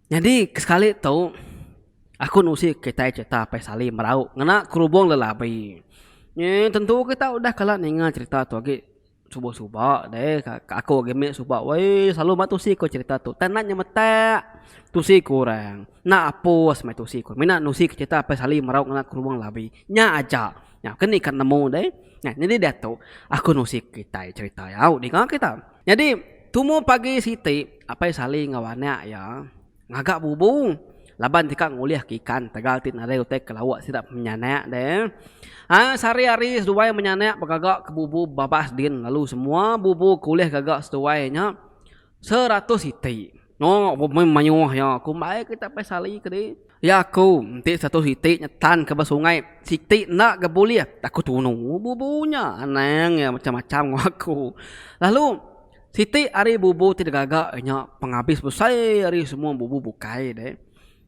Nyadi kesekali tu, aku nusi kitai cherita Apai Salim merau ngena kerubung lelabi. Ye tentu kita udah kala ninga cherita tu agi suba suba deh. Aku agi meh suba weh selalu ba tusi ku cherita tu. Tang enda nyemetak tusi ku orang. Enda apus meh tusi ku. Mina nusi ke cherita Apai Salim merau ngena kerubung lelabi. Nya aja. Nya ke ni ka nemu deh. Nah nyadi diatu aku nusi kitai cherita au dinga kita. Nyadi, tumu pagi siti, Apai Sali enggau anak iya ngaga bubu laban deka ngulihka ikan tagal ti nadai utai ke lauk sida penyanak deh. Ai sehari hari seduai menyanak begaga ke bubu babas din lalu semua bubu ke ulih gaga seduai nya seratus iti. Noo ku meh mayuh iya ku mbai ke tapai sali ke deh. Iya ku enti satu siti nyetan ke ba sungai siti enda ga bulih aku tunu bubu nya anang iya macam macam ngawa aku lalu siti ari bubu ti digaga inya pengabis besai ari semua bubu bukai deh.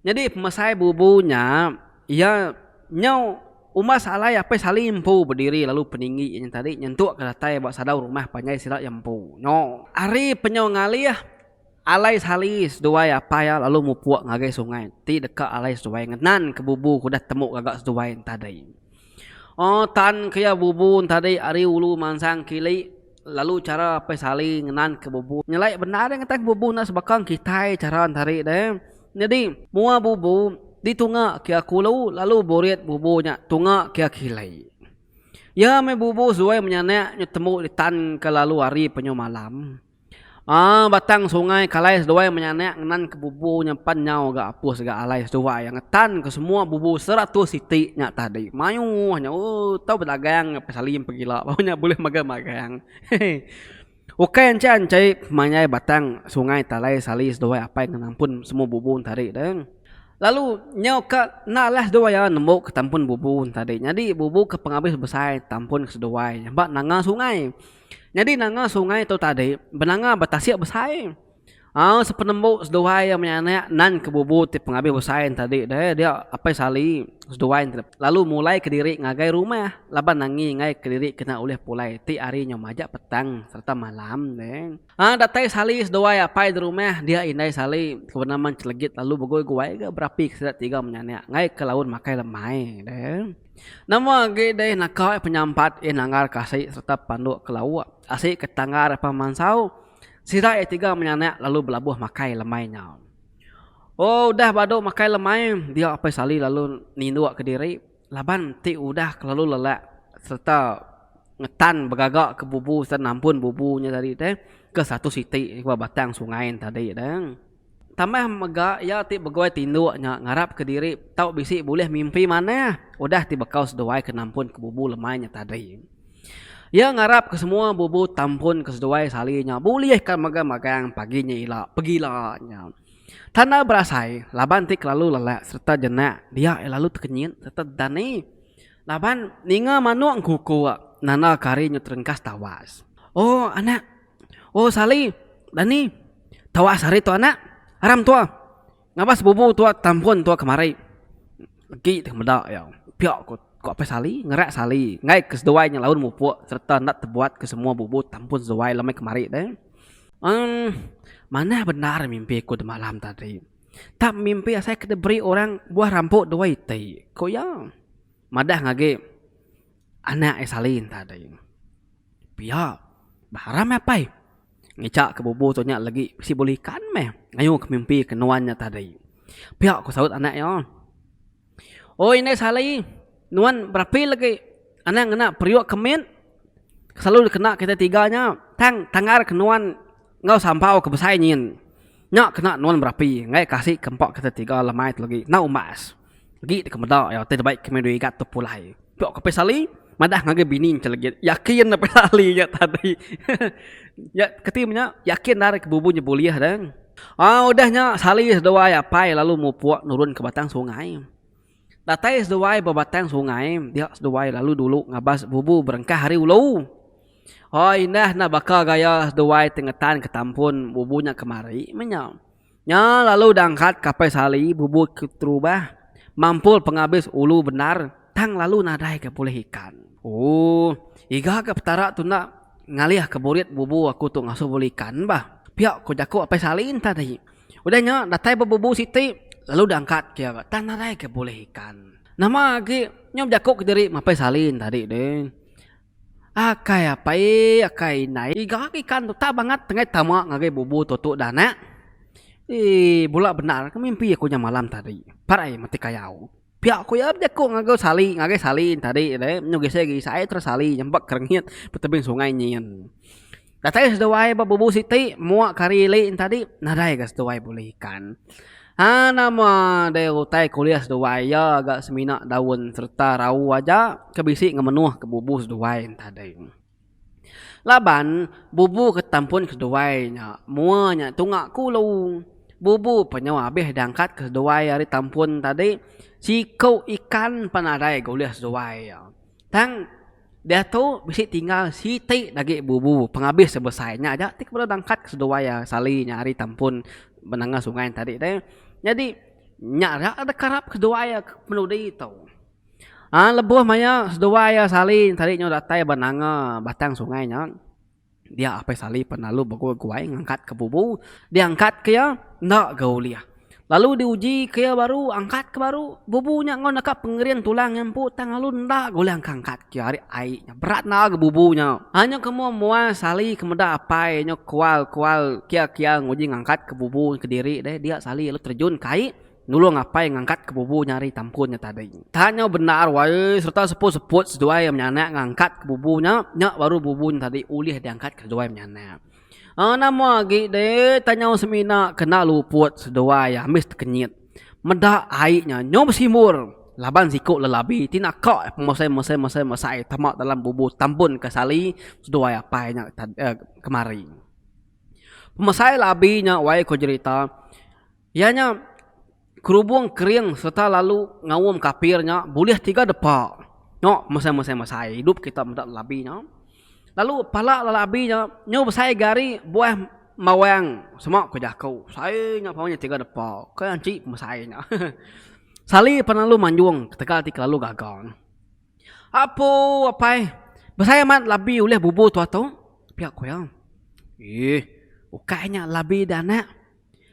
Nyadi pemesai bubu nya iya nyau umbas alai Apai Sali empu bediri lalu peninggi iya nya tadi nyentukka datai ba sadau rumah panjai sida iya empu nyo. Ari penyau ngalih alai Sali seduai apai iya lalu mupuk ngagai sungai ti deka alai seduai ngenanka bubu ke udah temu gaga seduai nya tadi. Oh tan ke iya bubun tadi ari ulu mansang kili lalu chara apai sali ngenan ke bubun nyelai bendar deh ngetan bubun enda sebaka kitai chara tadi deh nyadi mua bubun di tunga ke iya kulu lalu burit bubun nya tunga ke iya kili iya meh bubun suwai menyanak betemu di tan ke lalu hari penyu malam. Aa batang sungai kalai seduai menyanak ngenan ke bubu nyimpan nyau ga apus ga alai seduai ngetan ke semua bubu seratus siti nya tadi mayuh nya ooh tau bedagang ke salim pegila baru nya bulih mega magang hehe ukai enchai enchai mayai batang sungai talai sali seduai apai ke nampun semua bubu tadi deh lalu nyau ka enda alah seduai iya nembu ke tampun bubu tadi nyadi bubu ke pengabis besai tampun seduai ba nanga sungai Nyadi nanga sungai tu tadi benanga betasik besai. Au sepenembu seduai iya menyanak nan ke bubu ti pengabis besai ne tadi deh dia Apai Sali seduai ne lalu mulai kediri ngagai rumah laban nangi ngai kediri kena ulih pulai ti hari nyau majak petang sereta malam deh. Au datai Sali seduai Apai di rumah dia Indai Sali ke benama Enchelegit lalu begoi-goi ga berapi ke sida tiga menyanak ngai ke laun makai lemai deh. Nama agi deh naka iya penyampat iya nanggar ka asi sereta panduk ke lauk asi ke tanggar apan mansau sida iya tiga menyanak lalu belabuh makai lemai nya. Ooh udah ba duk makai lemai dia Apai Sali lalu ninduk ke diri laban ti udah kelalu lelak sereta ngetan begaga ke bubu sereta nampun bubu nya tadi teh ke satu siti ba batang sungai tadi teh. Tambah mega iya ti begoi tinduk nya ngarapka diri tau bisi bulih mimpi manah udah ti bekau seduai ke nampun ke bubu lemai nya tadi. Iya ngarap ke semua bubu tampun ke seduai sali nya bulih ka mega magang pagi nya ila pegila nya. Tanda berasai laban ti kelalu lelak sereta jenak dia iya lalu tekenyit sereta dani laban ninga manuk engkukuk nanda ke hari nya terengkas tawas. O anak. Oh sali dani tawas ari tu anak aram tua ngabah sebubu tua tampun tua kemari agi teh meda iya pia ku apai sali ngera sali enggai ke seduai nya laun mupuk serta enda tebuat ke semua bubu tampun seduai lalu meh kemari deh emm manah bendar mimpi ku semalam tadi tap mimpi asai ke diberi orang buah rampo duai ti ku iya madah agi. Anak ai salin tadi. Pia baram ai apai. Ngica ke bubu tu nya legi bisi bulu ikan meh ngayu ke mimpi ke nuan nya tadi. Pia ku saut anak iya. Oi indai sali nuan berapi legi anang ngena periuk ke mit ke selalu dikena kitai tiga nya tang tangar ke nuan enggau sambau ke besai nyin. Nya kena nuan berapi ngai kasik ke empa kitai tiga lemai tu legi enda umbas. Agi deka meda iya ti dibai kami dua igat tu pulai. Pio Kapis Ali madah ngagai bini nya legit. Yakin Kapis Ali nya tadi. Nya keti meh nya yakin ari ke bubu nya bulih deh. Au udah nya Sali seduai Apai lalu mupuk nurun ke batang sungai. Datai seduai ba batang sungai dia seduai lalu dulu ngabas bubu berengkah ari ulu. Hoi indah enda baka gaya seduai ti ngetan ke tampun bubu nya kemari meh nya. Nya lalu dangkat Kapai Sali bubut ke terubah mampul pengabis ulu bendar tang lalu nadai ke pulih ikan. Ooh. Iga ke Petara tu enda ngalih ke burit bubu aku tu ngasuh bulu ikan bah. Pia ko jako Apai Sali enti tadi. Udah nya datai ba bubu siti lalu dangkat ke ga tang nadai ke pulih ikan. Nama agi nyau jako kediri ma Apai Sali enti tadi deh. Akai apai akai indai ga ikan tu tau bangat nengah tama ngagai bubu tu tu dah anak. Ee bula bendar ke mimpi aku nya malam tadi. Pat ai meti kayau. Pia ku iya bejaku ngagai sali ngagai sali tadi deh nyu gisai gisai terus sali nyampak kerengit betebing sungai nyin. Datai seduai ba bubu siti muak kari ili entadi nadai ga seduai bulih ikan. Ha nama deh utai kuliah seduai iya ga semina daun serta rau aja ke bisi ngemenuh ke bubu seduai entadi. Laban bubu ke tampun seduai nya mua nya tunga kulu. Bubu pa nyau abih diangkat ke seduai ari tampun entadi siku ikan pa nadai ga ulih seduai iya. Tang. Diatu bisi tinggal siti agi bubu pengabis ti besai nya aja ti kebuah dangkat seduai iya sali nya ari Tampun benanga sungai nya tadi deh. Nyadi nya ira deka karap seduai iya ke penudi tu. Aaa lebuh maya seduai iya sali tadi nyu datai benanga batang sungai nya. Dia Apai Sali pan lalu begul guai ngangkat ke bubu, dia angkat ke iya enda ga ulih. Lalu di uji ke iya baru angkat ke baru, bubu nya enggau naka pengering tulang iya empu tang lalu enda ga ulih angkat angkat ke iya ari ai nya berat enda ga bubu nya. Ai nya ke mua mua Sali ke meda Apai nya kual kual kia kia nguji ngangkat ke bubu kediri deh dia Sali lalu terjun ke ai Nulung apai ngangkat ke bubu nya ari tampun nya tadi. Tang nyau bendar wai sereta seput-seput seduai menyanak ngangkat ke bubu nya, nya baru bubu nya tadi ulih diangkat ke seduai menyanak. Aaa nama agi deh tang nyau semina kena luput seduai ambis tekenyit. Meda ai nya nyau besimbur laban siku lelabi ti naka mesai-mesai-mesai-mesai tama dalam bubu tampun ke sali seduai apai nya tadi kemari. Pemesai labi nya wai ko jerita. Iya nya kerubung kering sereta lalu ngaum kapir nya bulih tiga depa. Nya mesai-mesai-mesai idup kita meda labi nya. Lalu pala labi nya nyau besai ga ari buah mawang sema ku jaku. Besai nya pau nya tiga depa. Kai anchi mesai nya. Sali pan lalu manjung ketegal ti kelalu gaga. Apu apai besai amat labi ulih bubu tu atu? Pia ku iya. Eeh ukai nya labi da anak.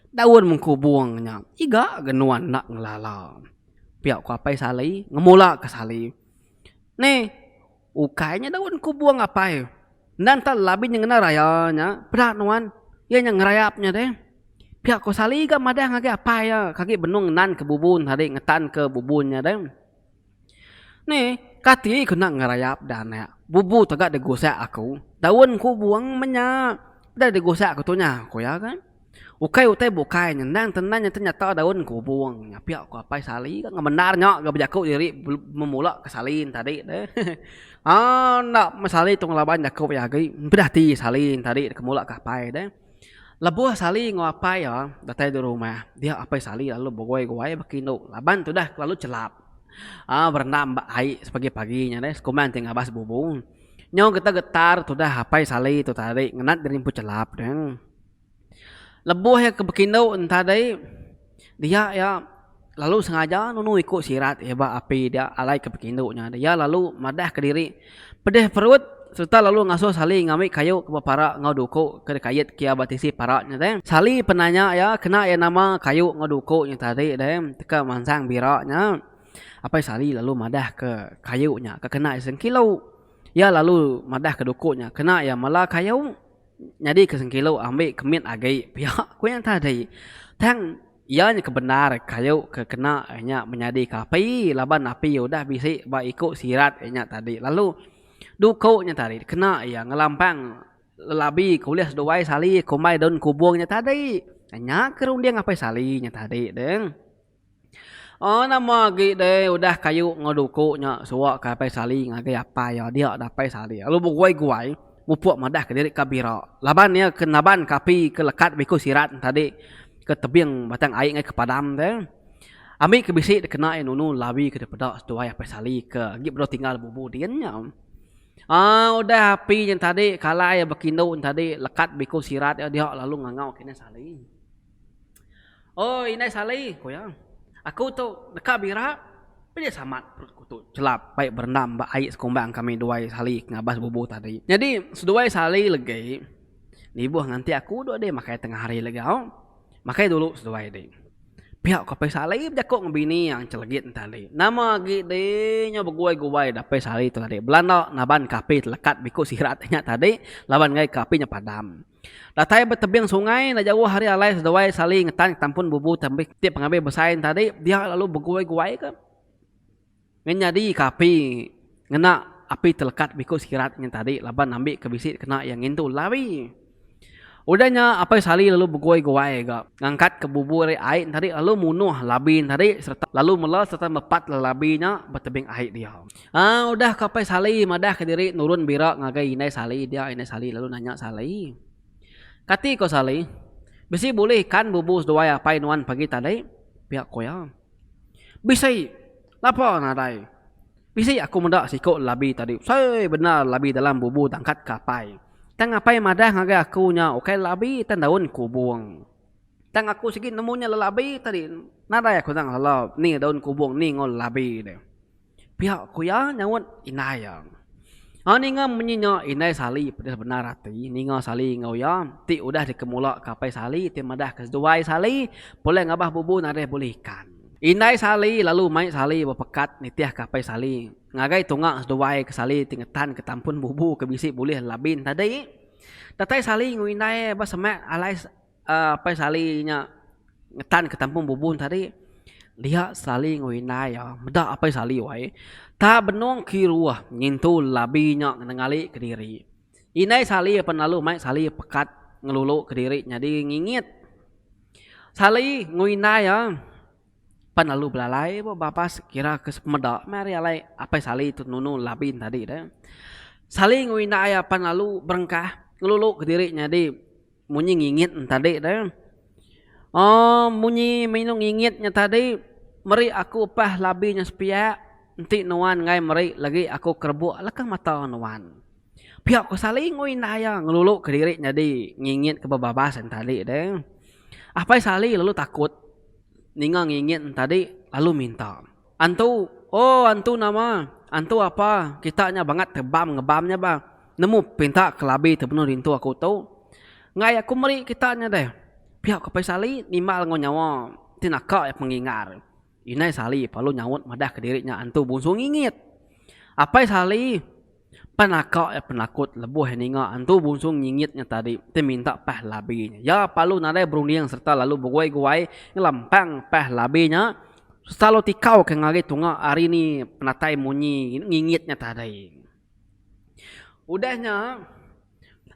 Daun mengkubung nya iga ga nuan enda ngelala. Pia ku Apai Sali ngemula ke Sali. Neh ukai nya daun mengkubung Apai. Enda enta labi nya ngena raya nya peda nuan iya nya ngerayap nya deh. Pia ku Sali ga madah ngagai Apai iya kagi benung nan ke bubun tadi ngetan ke bubun nya deh. Ni, kati ku enda ngerayap da nya. Bubu tega digusak aku. Daun ku buang meh nya. Udah digusak aku tu nya, ku iya kan. Ukai utai bukai nya. Endang ke endang nya nyata daun ku buang nya. Pia ku apai sali kan ngemendar nya ga bejaku diri memula ke sali ne tadi tu. Aa enda meh sali tu ngelaban jaku iya agi. Peda ati sali ne tadi ke mula ke apai tu. Lebuh Sali enggau apai iya datai di rumah, dia apai Sali lalu begowai-gowai baka indu laban tudah kelalu chelap berendam ba ai sepagi-pagi nya deh sekuman ti ngabas bubu. Nyau getar-getar tudah apai Sali tu tadi ngenat gerimput chelap nya. Lebuh iya ke bekindu enti tadi. Dia iya lalu sengaja nunu iku sirat iya ba api dia alai ke pekindu nya. Iya lalu madah ke diri pedih perut sereta lalu ngasuh Sali ngambi kayu ke bepara enggau duku ke dikait ke iya ba tisi para nya deh. Sali penanya iya kena iya nama kayu enggau duku nya tadi deh teka mansang bira nya. Apai Sali lalu madah ke kayu nya ke kena iya sengkilu. Iya lalu madah ke duku nya kena iya mela kayu. Nyadi ke sengkilu ambi ke mit agi pia ku nya tadi. Tang iya nya ke bendar kayu ke kena inya menyadi ke api laban api udah bisi ba iku sirat inya tadi lalu duku nya tadi kena iya ngelampang lelabi ke ulih seduai sali kumbai daun kubung nya tadi. Nya ke runding apai sali nya tadi deh. Aa nama agi deh udah kayu enggau duku nya suwa ka apai sali ngagai apai iya dia dah apai sali lalu beguai-guai mupuk madah ka diri ka bira laban iya ke naban ka api ke lekat ba iku sirat tadi ke tebing batang ai ngaih ke padam te ami ke bisi deh kena iya nunu lawi ke deh peda seduai apai sali ke agi bedau tinggal bubu din nya aa udah api nya tadi kalai bekindu tadi lekat ba iku sirat iya dia lalu ngangau kinih sali. Oi indai Sali, ku iya, aku tu deka bira pa nya samat perut aku tu chelap bai berendam ba ai sekumba kami duai Sali ke ngabas bubu tadi. Nyadi seduai Sali legi nibuh nganti aku dok deh makai tengah hari legi au. Makai dulu seduai deh. Pia ku apai Sali bejaku ngan bini iya chelegit ne tadi. Nama agi deh nyau beguai-guai dapai Sali tu tadi. Bela enda naban ke api telekat biku sirat inya tadi laban enggai ke api nya padam. Datai ba tebing sungai enda jauh ari alai seduai Sali ngetan ketampun bubu tembi ti pengabi besai tadi dia lalu beguai-guaika ngan nyadika api ngena api telekat biku sekirat nya tadi laban ambika bisi kena iya ngintu lawi. Udah nya Apai Sali lalu beguai-guai ga ngangkatka bubu ari ai tadi lalu munuh labi tadi sereta lalu mela sereta mepat labi nya ba tebing ai dia. Haa udah ka Apai Sali madah ka diri nurun bira ngagai Indai Sali dia Indai Sali lalu nanya Sali. Kati ko Sali. Bisi bulih ikan bubu seduai Apai nuan pagi tadi? Pia ko iya. Bisi. Lapa nadai. Bisi aku meda siko labi tadi. Usaii bendar labi dalam bubu dangkat ka Apai. Tang Apai madah ngagai aku nya ukai labi tang daun kubung. Tang aku sigi nemu nya lelabi tadi nadai aku nang lala ni daun kubung ni enggau labi ne. Pia ku iya nyaut indai iya. Nya ninga munyi nya indai Sali pedis bendar ati ninga Sali enggau iya ti udah dikemula ke apai Sali ti madah ke seduai Sali pulai ngabah bubu nadai bulih ikan. Indai Sali lalu mai Sali bepekat nitih ke apai Sali ngagai tunga seduai ke Sali ti ngetan ke tampun bubu ke bisi bulih labin tadi. Datai Sali enggau indai ba semak alai. Apai Sali nya ngetan ke tampung Bubun tadi dia Sali enggau indai iya meda Apai Sali wai tak benung kiruh ngintu labi nya ngengali kediri indai Sali apan lalu mai Sali pekat ngelulu kediri nyadi ngingit Sali enggau indai iya pan lalu belalai ba babas kira ke semeda meh ari alai Apai Sali tu nunu labi tadi deh Sali enggau indai iya pan lalu berengkah ngelulu kediri nyadi. Munyi ngingit nya tadi tu. Oh munyi minu ngingit nya tadi meri aku upah labi nya sepiak enti nuan enggai meri lagi aku kerebuk leka mata nuan. Pia ku Sali enggau indah iya ngelulu ke diri nyadi ngingit ke bebabas nya tadi tu. Apai Sali lalu takut ninga ngingit nya tadi lalu minta. Antu, Oh antu nama? Antu apa? Kita nya bangat tebam ngebam nya ba. Nemu pinta kelabi tebenung rintu aku tu. Enggai aku meri kita nya deh. Pia ku Pai Sali nimbal enggau nyawa ti naka iya pengingar. Inai Sali palu nyaut madah kediri nya antu bungsu ngingit. Apai Sali. Pan aka iya penakut lebuh iya ninga Entu Bungsung nyingit nya tadi ti minta pah labi nya. Iya palu nadai berunding sereta lalu beguai-guai ngelempang pah labi nya sereta lalu tikau ke ngari tunga ari ni penatai munyi ngingit nya tadi. Udah nya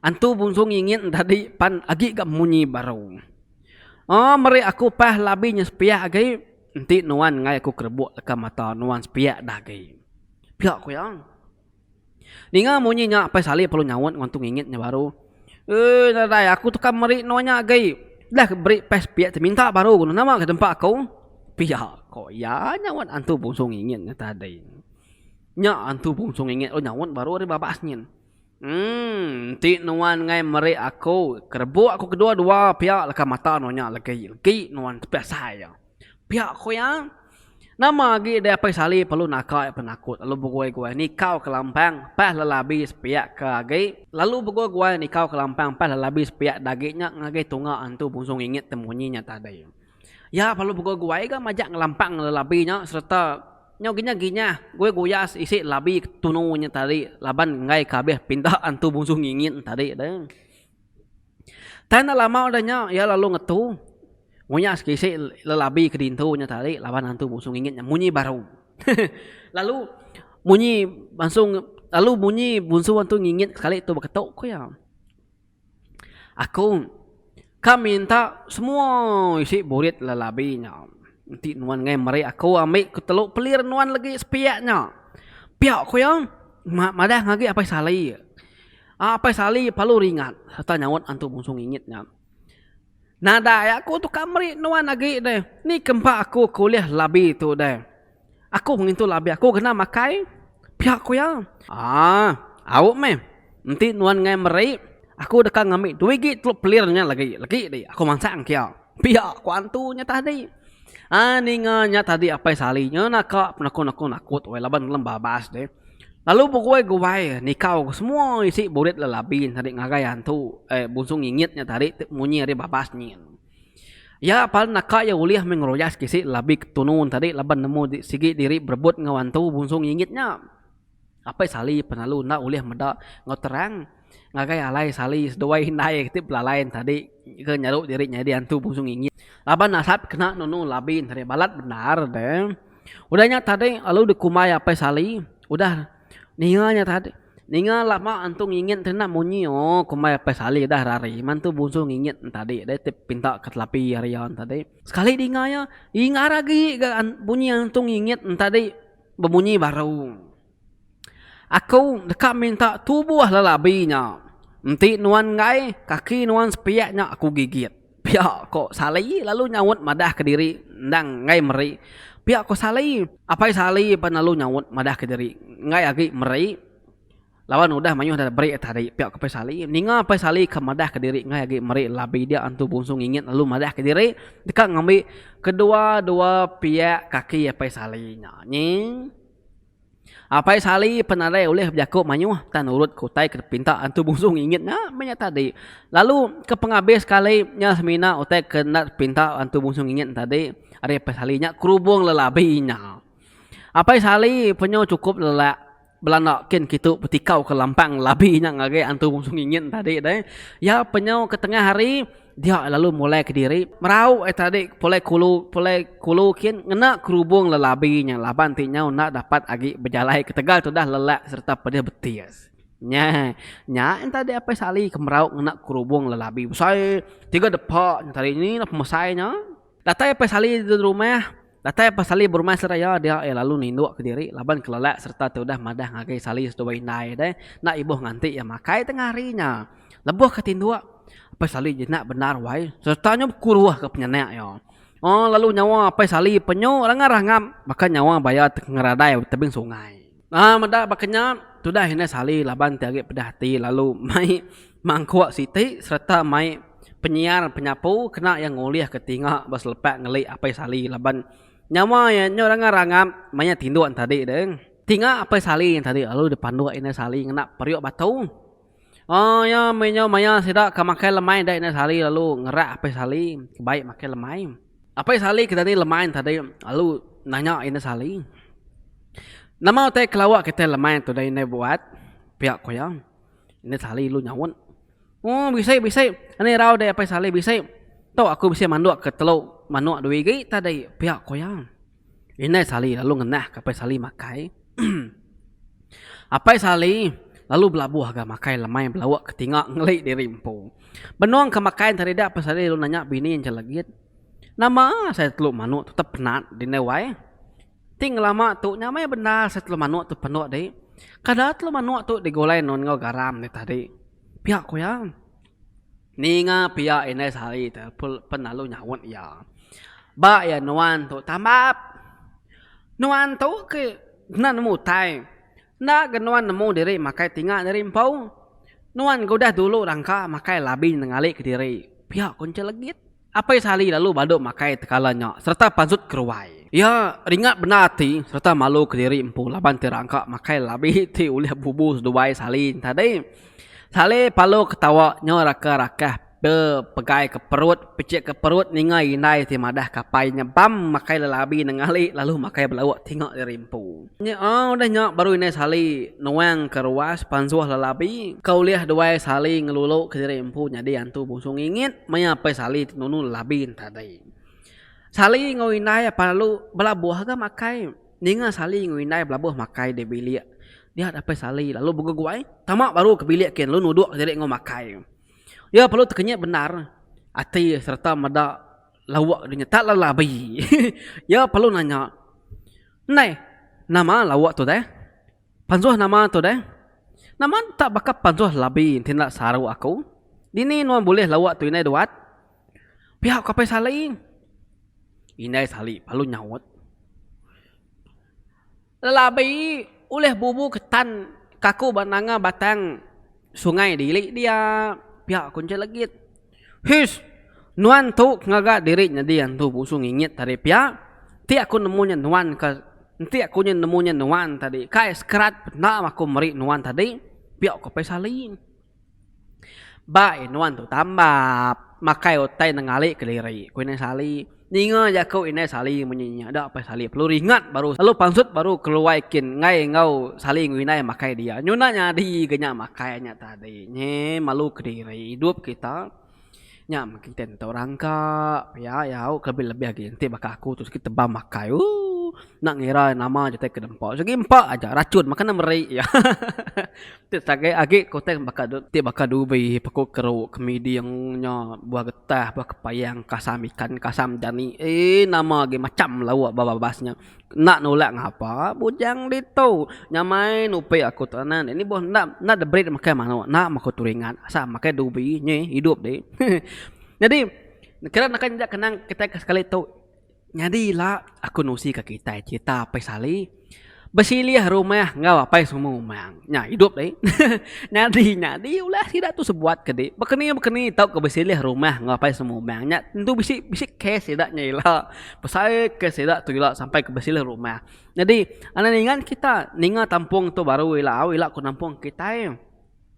Antu Bungsu ngingit entadi pan agi ga munyi baru. Oh meri aku pah labi nya sepiak agi enti nuan enggai aku kerebuk leka mata nuan sepiak dah agi. Pia ku iya. Ninga munyi nya Apai Sali perlu nyaut enggau Antu Ngingit nya baru. Uii nadai aku tu kan meri nuan nya agi. Dah ke beri pah sepiak ti minta baru ku nuan nama ke nempa aku. Pia ku iya nyaut Antu Bungsu Ngingit nya tadi. Nya Antu Bungsu Ngingit lalu nyaut baru ari babas nyin. Emm, enti nuan ngai meri aku kerebuk aku kedua-dua pia leka mata nuan nya legi, legi nuan tepi asai iya. Pia ku iya. Nama agi deh apai sali perlu naka iya penakut lalu begui-gui nikau kelampang pas lelabi sepiak ke agi, lalu begui-gui nikau kelampang pas lelabi sepiak dagi nya ngagai tunga antu Bungsu Ngingit temunyi nya tadi. Iya balu begoi guai ga majak ngelampang lelabi nya sereta nyau ginyah ginyah goi goyas isi labi ke tunu nya tadi laban enggai ka abih pinda antu bungsu ngingit nya tadi da. Tang enda lama udah nya iya lalu ngetu ngoyas ke isi lelabi ke dintu nya tadi laban antu bungsu ngingit nya munyi baru lalu munyi bangsu lalu munyi bungsu antu ngingit sekali tu beketu ku iya. Aku ka minta semua isi burit lelabi nya. Enti nuan enggai meri aku ambi ketelu pelir nuan legi sepiak nya. Pia ku iya madah ngagai Apai Sali. Apai Sali palu ringat sereta nyaut antu bungsu Ngingit nya. Nadai aku tu ka meri nuan agi deh. Ni ke empa aku ke ulih labi tu deh. Aku ngintu labi aku kena makai pia ku iya. Haa au meh enti nuan ngai meri aku deka ngambi dua igi telu pelir nya lagi legi di aku mansang kia. Pia ku antu nya tadi. Haa ninga nya tadi apai sali nya naka penakun aku nakut weh laban lem babas deh. Lalu begoi guai nikau ke semua isi burit le labi tadi ngagai antu eh bungsu ngingit nya tadi ti munyi ari babas nyin. Iya pan naka iya ulih meh ngeroyak sekisi labi ke tunu tadi laban nemu sigi diri berebut enggau antu bungsu ngingit nya. Apai Sali pan lalu enda ulih meda enggau terang ngagai alai Sali seduai indai ti belalai ne tadi ke nyeru diri nyadi antu bungsu ngingit laban nasat kena nunu labi tadi balat bendar deh. Udah nya tadi lalu dikumbai Apai Sali udah. Ninga nya tadi ninga lama antu ngingit kena munyi ooh kumbai apai saleh dah ari ari mantu bungsu ngingit tadi deh ti pinta ke telapi ari iya tadi sekali dinga iya ingat agi ga bunyi antu ngingit tadi bemunyi baru aku deka minta tubuh lelabi nya enti nuan enggai kaki nuan sepiak nya aku gigit. Pia ko Sali lalu nyaut madah ke diri endang enggai meri Pia ko Sali. Apai Sali pan lalu nyaut madah ke diri enggai agi meri laban udah mayuh deh beri tadi Pia ko Apai Sali. Ninga Apai Sali ka madah ke diri enggai agi meri labi dia Antu Bungsu Ngingit lalu madah ke diri deka ngambi kedua-dua piak kaki Apai Sali nya nying. Apai Sali penarai ulih bejaku mayuh tang nurut ke utai ke dipinta Antu Bungsu ngingit nya meh nya tadi. Lalu ke pengabis sekali nya semina utai ke enda dipinta Antu Bungsu ngingit tadi ari Apai Sali nya kerubung lelabi nya. Apai Sali penyu chukup lelak belanda kin kitu betikau ke lampang lelabi nya ngagai Antu Bungsu ngingit tadi deh. Iya penyu ke tengah hari. Dia lalu mulai kediri, merau ai tadi pulai kulu pulai kulu kin ngena kerubung lelabi nya laban ti nyau enda dapat agi bejalai ketegal tudah lelak sereta pedih betis. Nya nya entadi Apai Sali ke merau ngena kerubung lelabi besai tiga depa nya tadi. Nya ina pemesai nya. Datai Apai Sali di rumah Datai Apai Sali berumah seraya dia iya lalu nindu ke diri laban kelelak sereta ti udah madah ngagai Sali seduai indai deh enda ibuh nganti iya makai tengah hari nya. Lebuh ke tinduk, Apai Sali jinak bendar wai sereta nyau bekuruh ke penyanak iya. Lalu nyawa Apai Sali penyu rangap-rangap baka nyawa baya ti ke ngeradai tebing sungai. Nah meda baka nya, tudah indai Sali laban ti agi pedih ati lalu mai mangkuk siti sereta mai penyiar penyapu kena iya ngulihka tinga ba selepak ngeli Apai Sali laban nyawa iya nyau ranga rangap maya tinduk ntadi deh. Tinga Apai Sali nya tadi lalu dipanduk indai Sali ngena periuk batu. Oh iya meh nyau maya sida ka makai lemai enda ina sehari lalu ngerak apai sali bai makai lemai. Apai sali ke tadi lemai tadi lalu nanya ina sali. Nama utai ke lawa kitai lemai tu dah ina buat pia ku iya. Ina sali lalu nyaut. Oh bisi bisi enda irau deh apai sali bisi. Tu aku bisi mandok ke telu manok dua igi tadi pia ku iya. Indai Sali lalu ngenah ke Apai Sali makai. Apai Sali lalu belabuh ga makai lemai belauk ke tinga ngeli diri empu. Benung ke makai enti hari dak Apai Sali lalu nanya bini enche legit, Nama asai telu manuk tu tep penat dindai wai? Ti ngelama tu nya meh bendar asai telu manuk tu penuk dik. Kada telu manuk tu digulai enun enggau garam dik tadi. Pia ku iya. Ninga pia indai sehari te pen lalu nyaut iya. Ba iya nuan tu tambap. Nuan tu ke enda nemu utai. Enda ke nuan nemu diri makai tinga diri empu. Nuan ke udah dulu rangka makai labi nengalik diri. Pia ku Encik Legit. Apai Sali lalu balu makai tekala nya sereta pansut keruai. Iya ringat bendar ati sereta malu kediri empu laban ti rangka makai labi ti ulih bubu seduai Sali tadi. Sali palu ketawa nya raka rakah be pegai ke perut picik ke perut ninga indai ti madah ke apai nya bam makai lelabi nengali lalu makai belauk tinga diri empu. Nya udah nya baru indai Sali nuang ke ruas pansuh lelabi ke ulih duai Sali ngelulu ke diri empu nyadi antu bungsu ngingit maya apai Sali ti nunu lelabi enti tadi. Sali enggau indai pelalu belabuh ga makai. Ninga Sali enggau indai belabuh makai di bilik dia apai Sali lalu begeguai tama baru ke bilik kian lalu nuduk diri enggau makai. Iya perlu tekenyit bendar ati sereta meda. Lawak deh nya. Tak lala be. Iya perlu nanya. Ndai. Nama lawak tu deh? Panjuh nama tu deh? Nama enda tak baka panjuh labi enti enda saru aku. Dini nuan bulih lawak tu indai duat? Pia ku Apai Sali. Indai Sali perlu nyaut. Lelabi ulih bubu ke tan kaku ba nanga batang sungai diri dia, pia ku Encik Legit. His, nuan tu ke ngaga diri nyadi antu busu ngingit tadi pia, enti aku nemu nya nuan ka, enti aku nya nemu nya nuan tadi, kai sekerat penda aku meri nuan tadi, pia ku Apai Salim. Ba iya nuan tu tambap. Makai utai nenggali keliri, ku Indai Sali. Ninga jaku Indai Sali munyi nya, da pia Sali perlu ringat baru lalu pansut baru keluai kin enggai enggau Sali enggau Indai makai dia. Nyunak nyadi ga nya makai nya tadi. Nyeh malu kediri idup kita. Nya meh kite ntu orang ka pia au ke lebih-lebih agi enti baka aku tu sigi tebam akai ooh enda ngira nama jutai ke dempa sigi empa aja rachun maka ne meri hahaha tu sagai agi ku teng baka du ti baka dubi pekuk keru ke miding nya buah getah buah kepayang kasam ikan kasam dani eii nama agi macham lauk ba babas nya. Enda nulak ngapa bujang ditu. Nyamai nupi aku tu anak nih. Nih boh enda enda diberi deh makai manuk. Enda meh aku teringat. Asal makai dubi nyeh idup deh. Nyadi kira naka injak kenang kitai ke sekali tu. Nyadi ila aku nusi ke kitai cerita Apai Sali besilih rumah enggau Apai Sumu Umang. Nya idup deh. Nyadi nyadi ulah sida tu sebuat ke deh. Bekeni bekeni tau ke besilih rumah enggau Apai Sumu Umang. Nya tentu bisi bisi kes sida nya ila. Besai ke sida tu ila sampai ke besilih rumah. Nyadi enda ningan kita ninga tampung tu baru ila au ila ku nampung kitai.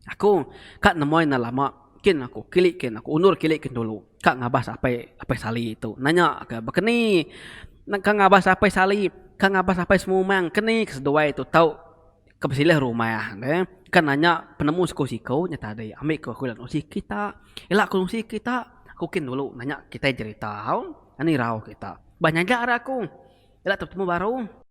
Aku ka nemuai enda lama kin aku kili kin aku undur kili kin dulu ka ngabas apai apai sali tu nanya ke bekeni nengka ngabas apai sali ka ngabas apai semumang keni ke seduai tu tau. Ke besilih rumah ne ke nanya penemu siku siku nya tadi ambi ke aku ila nusi kita ila aku nusi kita aku kin dulu nanya kitai jerita au ani irau kita ba nyaga ra aku ila te betemu baru.